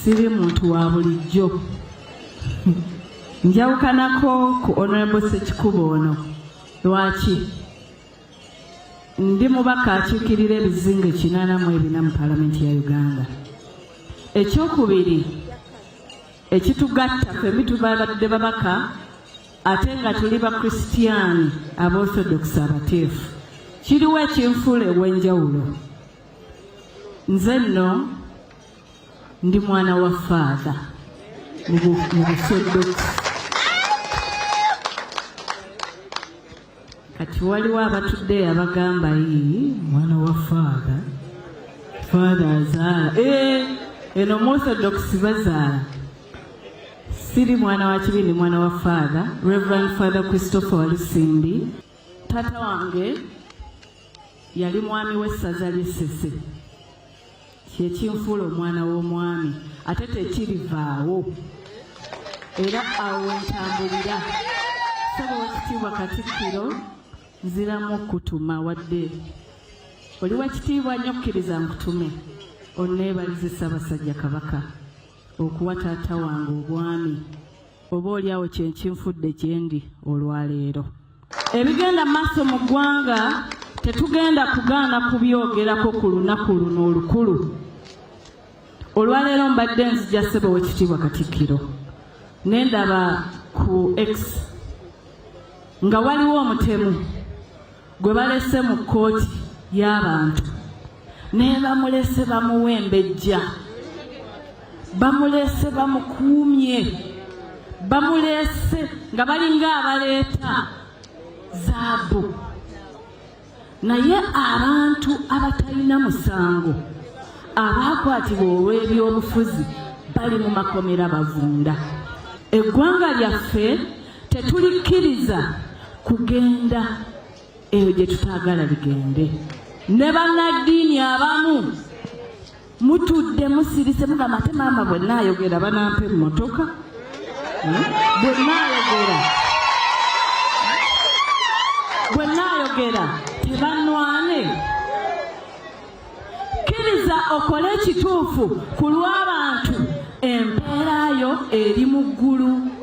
siri muntu wa bulijjo njawukanako ku honorable sekikubo ono lwaki ndi mubaka akiikirira ebizinga ekinana mu ebina mu palamenti ya uganda ekyokubiri ekitugatta femi tubabadde babaka ate nga tuli bakristiyaani abaorthodoxi abateefu kiriwo ekinfuula ewenjawulo nze nno ndi mwana wa faatha mu busodoksi kati waliwo abatudde abagamba yii mwana wa faatha faatha azaala eh, eno musodoksi bazaala siri mwana wa kibi ndi mwana wa faatha reverend father christopher walisimbi taata wange yali mwami w'essaza ly'essese kyekinfuula omwana w'omwami ate tekirivaawo era awo wentambulira saba wakitiibwa katikkiro nziramu okutuma wadde oli wakitiibwa nnyo kkiriza nkutume onneebalize ssabasajja kabaka okuwa taata wange obwami oba oli awo kyenkinfudde gyendi olwaleero ebigenda maaso mu ggwanga tetugenda kugaana kubyogerako ku lunaku luno olukulu olwaleero mbadde nzija ssebo wekitiibwa katikkiro ne ndaba ku x nga waliwo omutemu gwe balese mu kkooti y'abantu nebamulese bamuwembejja bamulese bamukuumye bamulese nga balinga abaleeta zaabu naye abantu abatalina musango abaakwatibwa olw'ebyobufuzi bali mu makomera bavunda eggwanga lyaffe tetulikkiriza kugenda eyo gye tutaagala ligende ne bannaddiini abamu mutudde musirise mugamba ate maama bwe naayogera banampa emmotoka hmm? bwe naayogera bwe naayogera tebanwane kkiriza okole ekituufu ku lw'abantu empeera yo eri mu ggulu